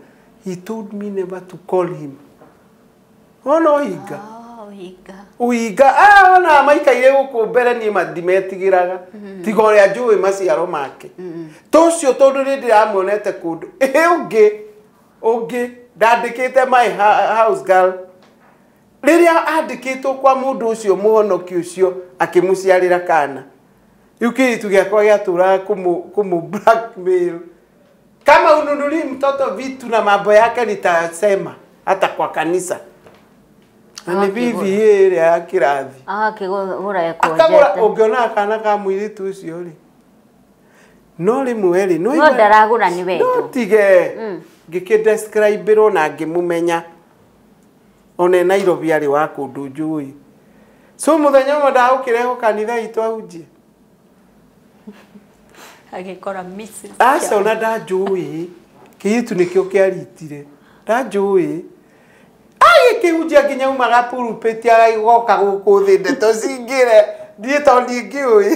he told me never to call him. Ona oiga. Oh, higa. Uiga, ah, ona maikaire guku mbere ni matimetigiraga. Tiga uria njui maciaro make. To cio tondu ni ndiramuonete kundu. Eh, ungi. Ungi ndandikite my ha- house girl. Riria andikitwo kwa mundu ucio muhonoki ucio akimuciarira kana. Rĩu kĩritu gĩakwa gĩatũraga kũmũ kũmũ blackmail. Kama ununulie mtoto vitu na mambo yake nitasema hata kwa kanisa. Na ni Akakĩgũra. bibi hii ĩrĩa ya kĩrathi. agakĩgũra akagũra ekonjete ũngĩona akana ka mũirĩtu ũcio rĩ no rĩmwe rĩ no igua- ndaragũra nĩ wendo. no tige ngĩkĩdescribĩrwo na ngĩmũmenya one nairobi arĩ wa kũndũ njũĩ so mũthenya ũmwe ndagũkĩrehwo kanitha itũ ahunjie agĩkora Mrs. aca ona ndanjũĩ kĩyutu nĩkĩo kĩaritire ndanjũĩ agĩkĩhunjia nginya umaga purupĩti agaigoka gũkũ thĩ ndeto cingĩre ndiĩ tondũ ndingĩũĩ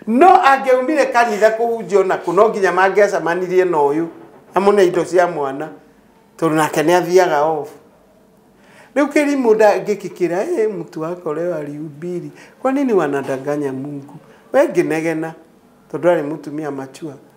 no angĩaumire kanitha kũhunjio nakũ no nginya mangĩacamanirie na ũyũ amũne indo cia mwana tondũ nake nĩ athiaga off rĩu kĩrimũ ndangĩkĩkĩra ĩ mtu wako leo alihubiri kwa nini wanadanganya mungu we ngĩnegena tondũ arĩ mũtumia mature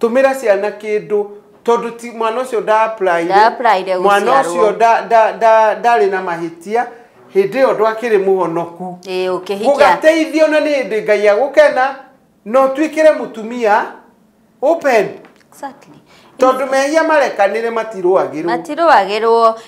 Tũmĩra ciana kĩndũ tondũ ti mwana ũcio nda apply-ire. Nda apply-ire Mwana gũciarwo. ũcio nda- nda- nda- ndarĩ na mahĩtia hĩndĩ ĩyo ndwakĩrĩ mũhonoku. Ĩĩ, ũkĩhikia. Gũgateithio na nĩ hĩndĩ Ngai agũkena na ũtuĩkĩre mũtumia open Exactly. tondũ mehia marekanĩre matirũagĩrwo. Matirũagĩrwo.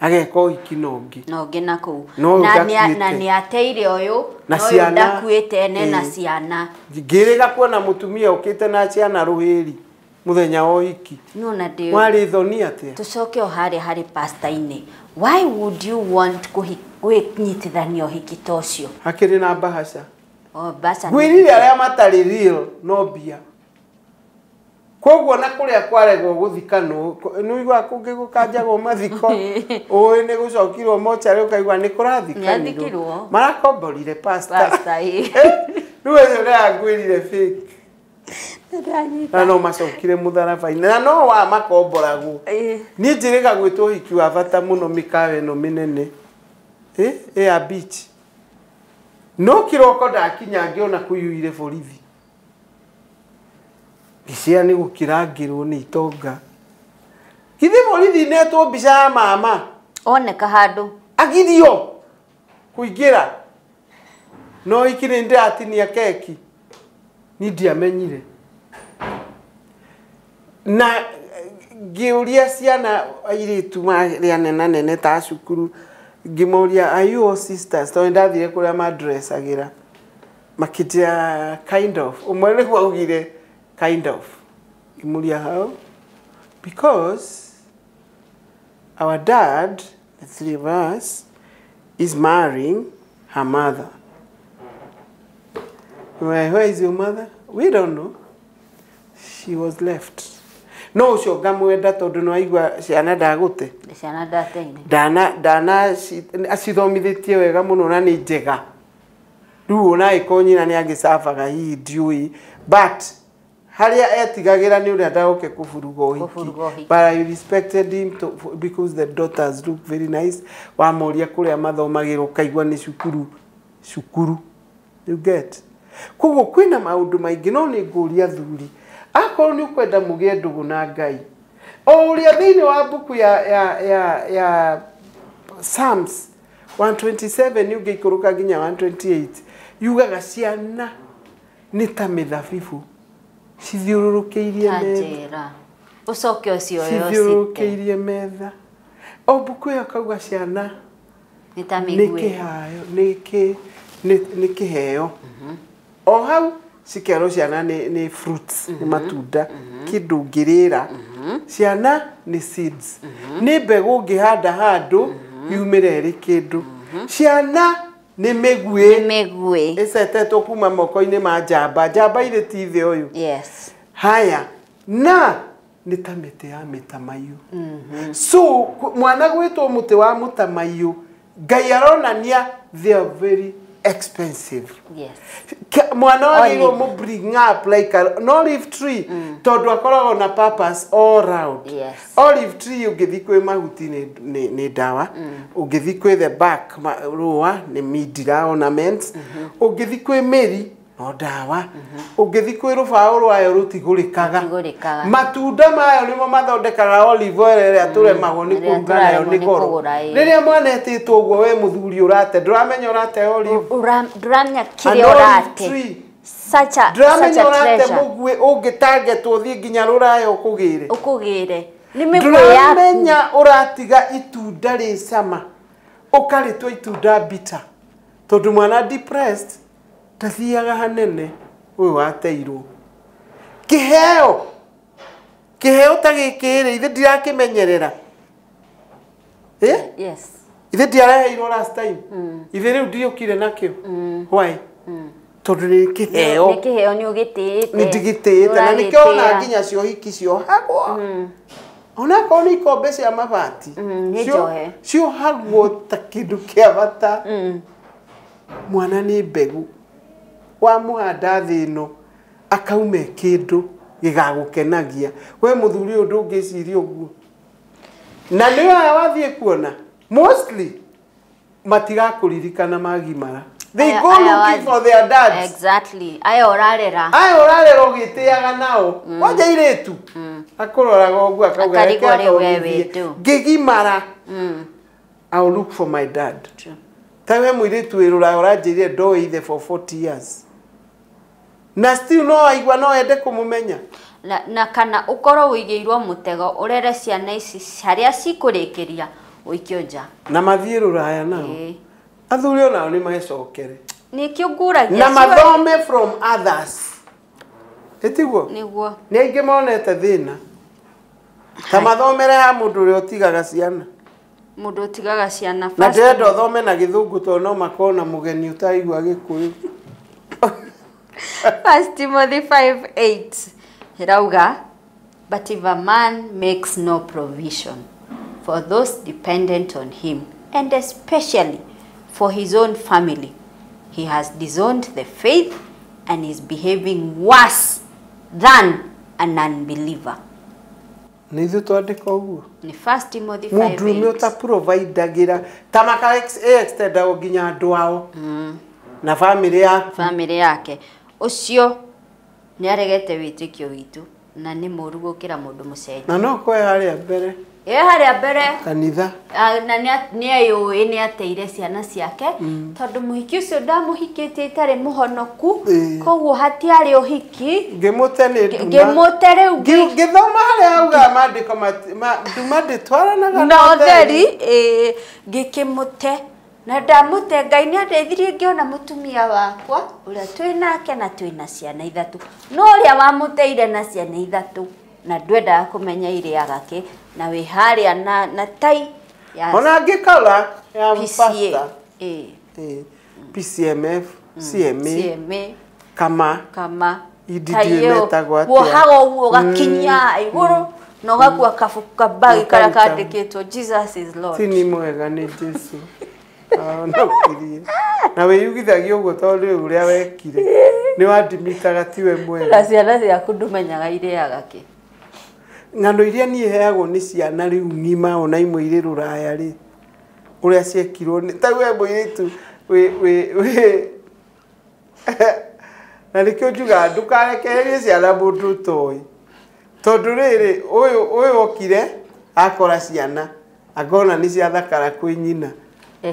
ageka ũhiki na ũngĩ na ũngĩ na kũu Na ũyũ na nĩ- ndakuĩte. na nĩ ateire ũyũ Na na ũyũ ciana. ndakuĩte ene na Eh. ciana ngĩrĩga kuona mũtumia ũkĩte na ciana rũhĩri mũthenya wa ũhiki no na ndĩ mwarĩ thoni atĩa tucoke o harĩa harĩ pastainĩ why would you want kũhi- kũnyitithania ũhiki ta ũcio hakĩrĩ na mbahaca o mbaca nĩ- ngwĩrire arĩa matarĩ real no mbia koguo na kũrĩa kwaregwo gũthikanwo kũ- nĩ ũiguaga kũngĩ gũkanjagwo mathiko ũĩ nĩ gũcokirwo mocarĩ ũkaigua nĩ kũrathikanirwo Nĩathikirwo. marakomborire pasta Pasta, ĩ. rĩu ũyũ ũrangwĩrire fake na no macokire mũtharaba-inĩ na no wa makomboragwo Ĩ. niĩ njĩrĩga gwĩtwo ũhiki wa bata mũno mĩkawa ĩno mĩnene ĩ ĩya beach no kĩroko ndakinya ngĩona kũiyũire borithi mbica ĩyo nĩ gũkĩrangĩrwo nĩ itonga githĩ borithi netwo mbica ya mama oneka handũ agirio kũingĩra no iki nĩ ndĩratinia keki ni ndiamenyire na ngĩũria ciana airĩtu marĩa nenanene ta a cukuru ngĩmoria are you all sisters tondũ nĩ ndathire kũrĩa mandressagĩra Makĩnjĩra kind of. Ũmwe nĩguo augire kind of. Ngĩmũria how? Because our dad, the three of us, is marrying her mother. Where, where is your mother? We don't know. She was left. No ũcio ngamwenda tondũ nĩ waigua ciana ndagũte ciana ndateine ndana ndana ci- acithomithĩtie wega mũno na nĩ njega Rĩu ona angĩkorwo nyina nĩ agĩcabaga hihi ndiũĩ but harĩa etigagĩra nĩ ũrĩa ndagoke kũburuga ũhiki. Kũburuga ũhiki. But I respected him to, because the daughters look very nice. Wamoria kũrĩa mathomagĩra ũkaigua nĩ cukuru cukuru. You get? Koguo kwĩna maũndũ maingĩ no nĩ ngũria athuri, akorwo nĩ ũkwenda mũgĩe ndũgũ na Ngai, o ũrĩa thĩinĩ wa mbuku ya ya ya ya Psalms 127 yuga ikũrũka nginya 128 yugaga ciana nĩ ta mĩthabibũ cithiũrũrũkĩirie metha Tanjĩra. Ũcoke ũcio ũyũ ũcite. cithiũrũrũkĩirie metha o mbuku ĩyo kauga ciana Nĩ ta nĩ mĩguĩ. kĩhayo nĩ kĩ- nĩ- nĩ kĩheo o hau cikerwo ciana nĩ nĩ fruits nĩ matunda kĩndũ ngĩrĩra ciana nĩ seeds nĩ mbegũ ngĩhanda handũ yumĩre ĩrĩ kĩndũ ciana nĩ mĩguĩ mĩguĩ ĩcetetwo kuma moko-inĩ ma njamba njamba irĩ ti thĩ ũyũ yes haya na nĩ ta mĩtĩ ya mĩtamaiyũ so kũ- mwana gwĩtwo mũtĩ wa mũtamaiyũ ngai aronania they are very expensive yes Ke- mwana wagĩrĩirwo Olive. mũ bring up like a, an olive tree mm. tondũ akoragwo na purpose all round Yes. olive tree ũngĩthi kwĩ mahuti nĩ- nĩ nĩ ndawa ũngĩthi kwĩ the back ma- rũa nĩ mindira ornaments ũngĩthi kwĩ mĩri no ndawa ũngĩthi kwĩ rũbaũ rwayo rũtigũrĩkaga Rũtigũrĩkaga. matunda mayo nĩmo mathondekaga olive oil ĩrĩa tũremagwo nĩ ĩrĩa kũruga nayo tũraremwo nĩ nĩ goro kũgũra, ĩĩ. rĩrĩa mwana etĩtwo ũguo we mũthuri ũrate ndũramenya ũrate olive Ura- ndũramenya kĩrĩa An olive ũrate tree. Such a- such a ndũramenya ũrate treasure. mũguĩ ũngĩtangetwo thiĩ nginya rũraya ũkũgĩre ũkũgĩre nĩ mĩguĩ yaku ndũramenya ũratiga itunda rĩ cama ũkarĩtwa itunda bita tondũ mwana depressed Ndathiaga hanene ũyũ wateirwo. Kĩheo! Kĩheo ta gĩkĩ rĩ, ithe ndirakĩmenyerera. Eh? Yes. Ithe ndiaraheirwo last time. Ithe rĩu ndiũkire nakĩo. Why? Tondũ nĩ kĩheo. Nĩ kĩheo nĩ ũgĩtĩĩte. Nĩ ndigĩtĩĩte na nĩkĩo ona Ũragĩtĩĩa. nginya ciohiki ciohagwo. Onakorwo nĩ ikombe cia mabati. Mm, nĩ cio- njohe. Ciohagwo ta kĩndũ kĩa bata. Mwana nĩ mbegũ, wamũhanda thĩ ĩno akauma e kĩndũ gĩgagũkenagia. We mũthuri ũyũ ndũngĩciria ũguo? Na nĩ aya wathiĩ kuona mostly matigakũririkana magimara. They Aya- go aya looking wa- for their dads. Exactly. Aya ũrarera. Aya ũrarera ũgĩtĩaga nao. Wanja irĩtu. Akũroraga ũguo akauga Akarigwo reke rĩu we athomithie. wĩndũ. Ngĩgimara. I will look for my dad. True. Ta we mwiritu wi ruraya uranjirire ndoe ithe for 40 years. Na still no aigua no ende kumumenya. Na, na kana ukorwo uigeirwo mutego urere ciana ici haria cikurikiria uikio nja. Na mathie ruraya nao. Eh. Athuri onao ni magecokere. Ni kio nguragia. Na mathome from others. Itiguo? Niguo. Ni aingi monete thina. Ta mathomere ha mũndũ ũrĩa ũtigaga ciana. Mũndũ ũtigaga ciana Na first. ndĩrenda ũthome na gĩthũngũ tondũ no makorwo na mũgeni ũtaigua gĩkũyũ. First Timothy 5:8 irauga but if a man makes no provision for those dependent on him and especially for his own family he has disowned the faith and is behaving worse than a non-believer. Nĩ ithuĩ twandĩka ũguo? Nĩ 1 Timothy 5 Mũndũrũme 8. ũtapurovaidagĩra ta maka extendagwo nginya andũ ao na bamĩrĩ yaku. famĩlĩ yake ũcio nĩ aregete wĩtĩkio witũ na nĩ mũũru gũkĩra mũndũ mũcenjia Na no kwoya arĩa mbere. ĩ harĩa mbere kanitha ah, na nĩa- nĩeyũĩ nĩ ateire ciana ciake tondũ mũhiki ũcio ndamũhikĩtie itarĩ mũhonoku Ĩ. koguo hatiarĩ ũhiki ngĩmũte nĩ nduma ngĩmũte rĩu ngĩ- Ngi- ngĩthoma harĩa augaga maandĩko mati- ma- nduma ndĩtwaranaga na ũtheri ĩ, ngĩkĩmũte na ndamũte ngai nĩ andeithirie ngĩona mũtumia wakwa ũrĩa twĩ nake na twĩ na ciana ithatũ no ũrĩa wamũteire na ciana ithatũ na ndwendaga kũmenya irĩaga kĩ na wĩ harĩa na, na tai ya ona angĩ kala ya PCA. pasta Ĩĩ, Eh, PCMF CMA CMA kama kama Idi tai ndiũĩ ĩyo, metagwo atĩa. wohaga ũguo ũgakinya igũrũ na ũgakua kabuku kabagi karĩa Ũkaruta. kandĩkĩtwo jesus is lord ti ni mwega nĩ Jesu Ah, no ũkirie. na wĩyugithagia ũguo tondũ rĩu ũrĩa wekire nĩ wandimitaga tiwe mwega na ciana ciaku ndũmenyaga irĩaga kĩ ng'ano iria niĩ heagwo nĩ ciana rĩu ng'ima ona imwe irĩ rũraya rĩ ũrĩa ciekirwo nĩ ta we mũirĩtu wĩ wĩ wĩ na nĩkĩo njugaga ndũkarekererie ciana mũndũ ũtoĩ tondũ rĩrĩ ũyũ ũyũ okire akora ciana akona nĩ ciathakara kwĩ nyina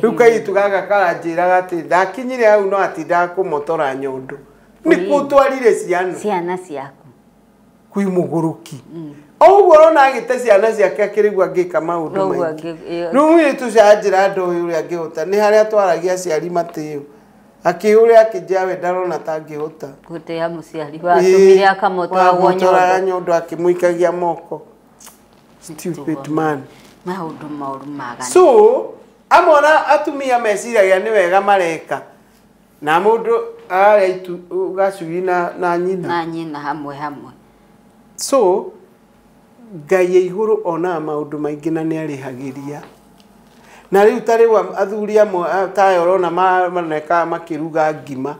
rĩu kairĩtu gaka karanjĩraga atĩ ndakinyire hau no atindaga kũmotora nyondo nĩkũ ũtwarire ciana ciana ciaku kwĩ mũgũrũki o ũguo ũrona agĩte ciana ciake akĩrĩgua angĩka maũndũ Noguo maingĩ angĩ- ĩyo- rĩu mũirĩtu ũcio anjĩra andũ ũyũ ũrĩa angĩhota nĩ harĩa atwaragia aciari matĩo akĩũrĩa akĩnjĩra we ndarona ta angĩhota gũtĩa mũciari watũmire akamũtwaragwo wakamũtwaraga nyondo nyondo akĩmũikagia moko stupid man maũndũ moru magana so amona atumia meciragia nĩ wega mareka na mundu arĩa itu gacui na na nyina na nyina hamwe hamwe so ngai ya iguru onaga maundu maingi na niarihagĩria na riu ta riu am- athuri amwe a- ta aya urona ma- manekaga makiruga ngima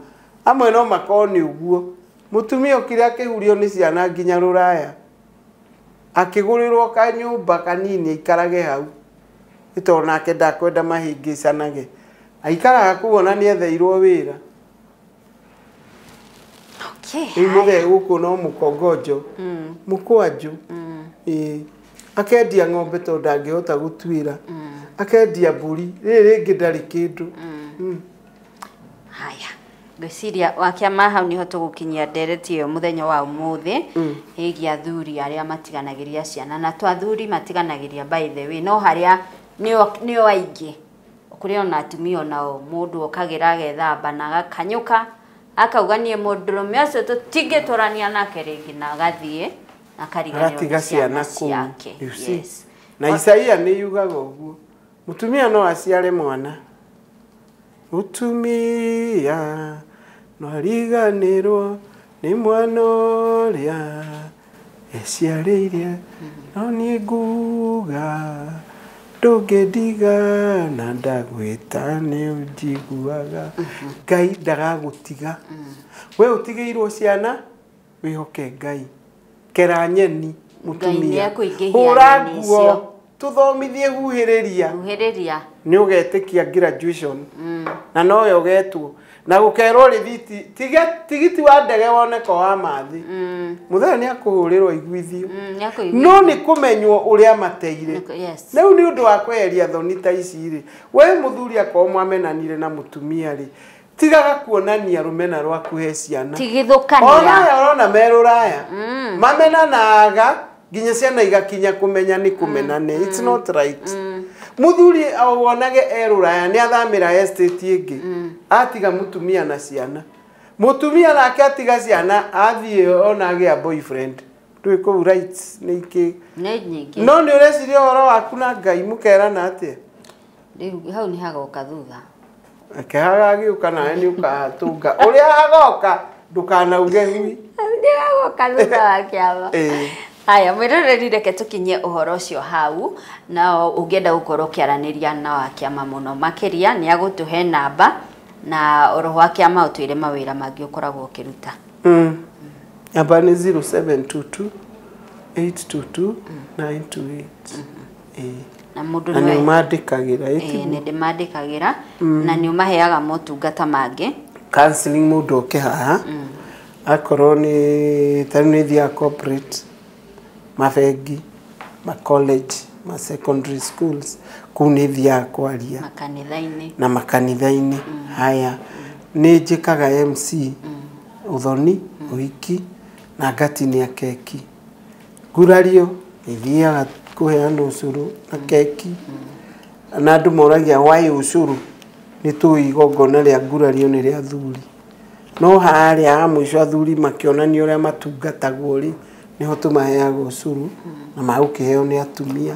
amwe no makorwo ni uguo mutumia ukire akihurio ni ciana nginya ruraya akigurirwo kanyumba kanini aikarage hau nĩ tondũ nake ndakwenda mahĩngĩcanage. Aikaraga kũu ona nĩ etheirwo wĩra. Okay, Rĩu haya. mũthee gũkũ no mũkongonjo, mũkwanjũ. Ĩĩ. Akendia ng'ombe tondũ ndangĩhota gũtuĩra. Akendia mbũri, rĩrĩ rĩngĩ ndarĩ kĩndũ. Mm. haya ngwĩciria wakĩama hau nĩho tũgũkinyia ndereti ĩyo mũthenya wa ũmũthĩ ĩgiĩ athuri arĩa matiganagĩria ciana na to athuri matiganagĩria by the way no harĩa nĩo nĩo aingĩ kũrĩ ona atumia onao mũndũ okagĩra agethamba na agakanyũka akauga niĩ mũndũrũme ũcio tũtingĩtũrania nake rĩngĩ na agathiĩ akariganĩrwo nĩ agatiga ciana kũu ciake you see. yes. na isaia nĩ yugaga ũguo Mũtumia no aciare mwana. Mũtumia no ariganĩrwo nĩ mwana ũrĩa eciarĩire, no niĩ nguga ndũngĩndigana ndagwĩta nĩ ũnjiguaga. Ngai ndagagũtiga. We ũtigĩirwo ciana. wĩhoke ngai kera nyeni mũtumia hũra nguo tũthomithie huhĩrĩria huhĩrĩria nĩ ũgetĩkia graduation mm. na nowe ũgetwo na gũkerwo rĩthiti tigiti wa ndege woneka wa mathĩ mm. mũthenya nĩ akũhũrĩrwo iguithio mm, no nĩ kũmenywo ũrĩa mateire rĩu nĩ ũndũ wa kweheria thoni ta ici rĩ we mũthuri akorwo mwamenanire na mũtumia rĩ tigaga kuonania rũmena rwaku he ciana tigithũkania oraya orona merũraya mm. mamenanaga nginya ciana igakinya kũmenya nĩ kũmenane mm. it's not right mm. muthuri wonage erũraya nĩ athamĩra estate ĩngĩ mm. atiga mutumia na ciana mutumia nake atiga ciana athiĩ ona agĩa boyfriend ndwĩ kũu rights nĩ ingĩ no nĩ ũreciria ũhoro waku na ngai mũkerana atĩa Rĩu hau nĩ hagoka thutha. Reke hagagĩũka nawe nĩ ũkahatũnga. Ũrĩa hagoka ndũkanauge hui. Hau nĩ hagoka thutha wa kĩama. Ĩĩ. Haya, mwĩroreri reke tũkinyie ũhoro ũcio hau, na ũngĩenda gũkorwo ũkĩaranĩria na wa kĩama mũno makĩria, nĩ agũtũhe namba, na oro wa kĩama ũtwĩre mawĩra mangĩ ũkoragwo ũkĩruta. Mm. Namba nĩ 0722 822 928. na mũndũ na nĩ ũmandĩkagĩra ĩ ti- nĩ ndĩmandĩkagĩra na nĩ ũmaheaga motungata mangĩ counseling mũndũ oke haha akorwo nĩ tarĩu nĩ thiaga corporate mabengi ma college ma secondary schools kũu nĩ thiaga kwaria makanitha-inĩ na makanitha-inĩ haya nĩ njĩkaga MC ũthoni ũhiki na ngatinĩa keki gurario ithiaga kũheana ũcũrũ na keki na andũ moragia why ũcũrũ nĩ tũĩ igongona rĩa gurario nĩ rĩa athuri no harĩa ha mũico athuri makĩonanio ũrĩa matungatagwo rĩ nĩho tũmaheaga ũcũrũ na magũkĩheo nĩ atumia.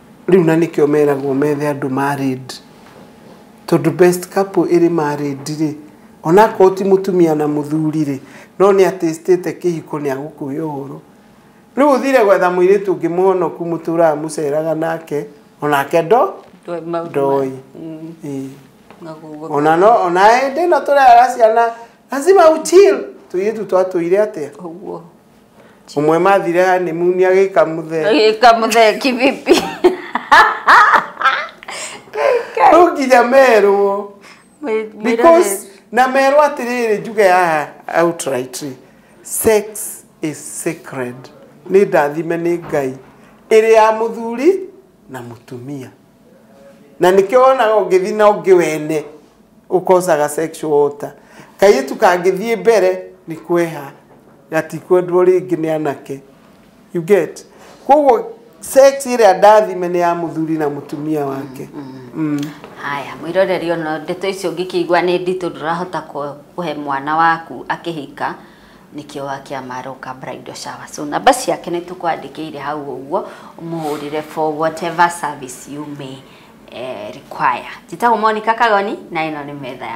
Rĩu na nĩkĩo meragwo methe andũ married. Tondũ best couple ĩrĩ married rĩ, ona akorwo ti mũtumia na mũthuri rĩ, no nĩ a taste ĩte kĩhiko nĩ agũkũhe ũhoro. Rĩu ũthire gwetha mũirĩtu ũngĩ mũhonoku mũtũraga mũceraga nake, onake ndo, ndoĩ. Ĩĩ. Ona no, ona hĩndĩ ĩno tũrera ciana, lazima u chill. Tũirĩtu twatũire atĩa? Umwemathire honeymoon agĩka mũthee. Agĩka mũthee kivipi? Rĩu nginya merwo. Because na merwo atĩrĩrĩ njuge haha outrightly. Sex is sacred. Nĩ ndathime nĩ Ngai. Ĩrĩ ya mũthuri na mũtumia. na nĩkĩo wonaga ũngĩthiĩ na ũngĩ wene ũkosaga sexual water kairĩtu kangĩthiĩ mbere nĩ kweha gatikwendwo rĩngĩ nĩ anake you get koguo sex ĩrĩa ndathime nĩ ya mũthuri na mũtumia wake mm. haya mwĩroreri ona ndeto icio ũngĩkĩigua nĩ nditũ ndũrahota kũ- kũhe mwana waku akĩhika nĩkĩo wa kĩama aroka bridal shower so namba ciake nĩ tũkwandĩkĩire hau ũguo ũmũhũrĩre for whatever service you may eh, require njĩtagwo Monica Kagoni na ĩno nĩ metha ya